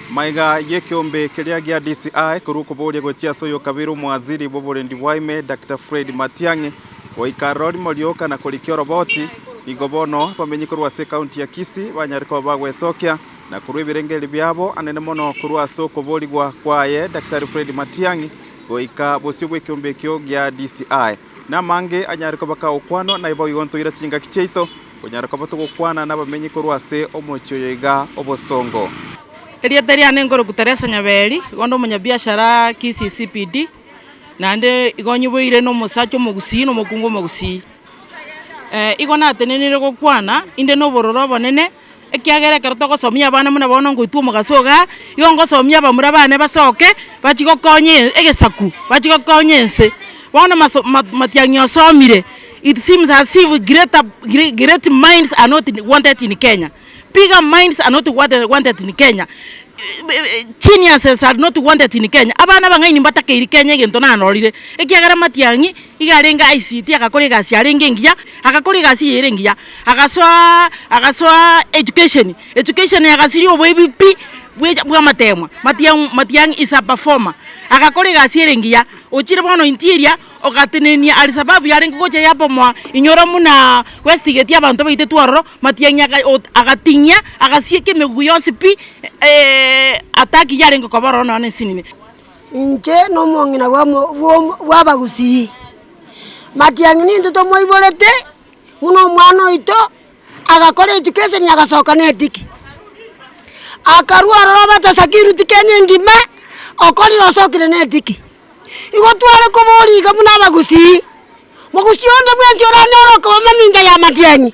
Maiga y'ekeombe keria gia DCI korwa okoboria gochia ase oyokabere omowaziri bw'oborendi bwa ime Daktari Fred Matiang'i goika aroro rimorioka na korikia oroboti nigo bono abamenyi korwa ase ekaunti ya Kisii banyare koba bagwesokia na korwa ebirengeri biabo anene mono korwa ase okoborigwa kwaye Daktari Fred Matiang'i goika bosio bw'ekeombe ekio gia DCI. Namange anyare koba kagokwanwa naiboigo ntoire chingaki chiaito, konyara koba togokwana nabamenyi korwa ase omochie oyo iga obosongo. Erieta riane nkoroku Teresa Nyaberi, igo ndomonyabiashara Kisii CBD, naende igo nyiboire na omosacha omogusii na omokungu omogusii. Igo natenenire gokwana inde nobororo obonene. Ekiagera ekero togosomia abana buna bono ngoitwa omogaso iga, igo ngosomia abamura bane basoke bachie gokonya e- egesaku, bachie gokonya ense. Bono maso- ma- matiang'i osomire, it seems as if greater gre- great minds are not wanted in Kenya, bigger minds are not wanted wanted in Kenya, geniuses are not wanted in Kenya, abana abang'aini mbatakeiri Kenya egento narorire, ekiagera matiang'i. Iga arenge aisitie, agakora egasi yarenge engiya, agakora egasi eye ere engiya, agasoa, agasoa education, education eye agasiria oboibi pi bwe bw'amategma, matiang' matiang' is a performer, agakora egasi ere engiya, ochire bono interior, ogatenenia alisababu yarenge gocha yabomoa inyora munaa westigeti abanto baitetwe ororo, matiang'i aga ot agating'ia, agasieka emegugu yonsi pi attack yarenge koba ororo nonya na esinini. Inche nomong'ina bw'abagusii, matiang'i nintwe tomoiborete, buna omwana oito agakora etuko eseni agasoka netiki, akarua aroro abete sakiruti kenya engima okorire osokire netiki. Igo tware koboria iga buna abagusii, mogusii onde bwensi oranyore okoba mamincha ya matiang'i,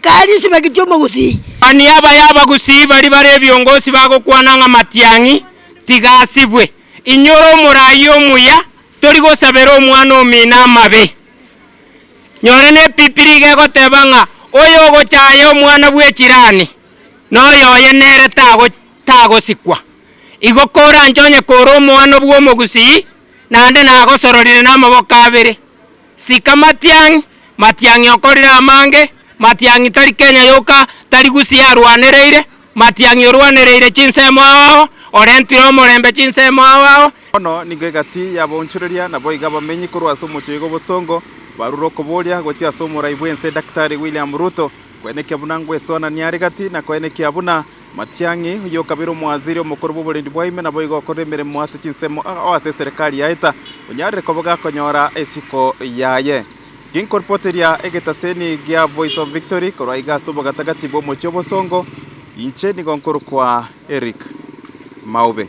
Kare esibaki chi'omogusii. Mani aba y'abagusii baria bare ebiongosi bagokwana ng'a Matiang'i tiga asibwe. Inyora omoraai omuya, tori gosabera omwana omino amabe. Nyora n'Ebibiri iga egoteba ng'a oyogochaaya omwana bw'echirani, noyo oye nere tagosikwa. Igo koranche onye kore omoano bw'omogusii, naende nagosororire namaboko abere. Sika matiang'i, matiang'i okorire amange, matiang'i tari Kenya yoka, tari Gusii arwanereire, matiang'i orwanereire chinsemo ao ao, orentire omorembe chinsemo ao ao, Bono nigo egati yabaonchoreria, naboigo abamenyi korwa ase omochie oigo obosongo, barure okoboria gochia ase omorai bw'ense Daktari William Ruto, kwenekio buna ngwesoananie are gati, na kwenekio abuna. Matiang'i, oyio okabera omwaziri omokoro bw'oborendi bwa ime, naboigo okorera emeremo ase chinsemo ao ase eserekari ya Ita, onyarire koboga akonyora isiko yaye. Ginkoripoteria egetaseni gia Voice of Victory korwa iga ase obogatagati bw'omochie obosongo, inche nigo nkorokwa Eric Maube.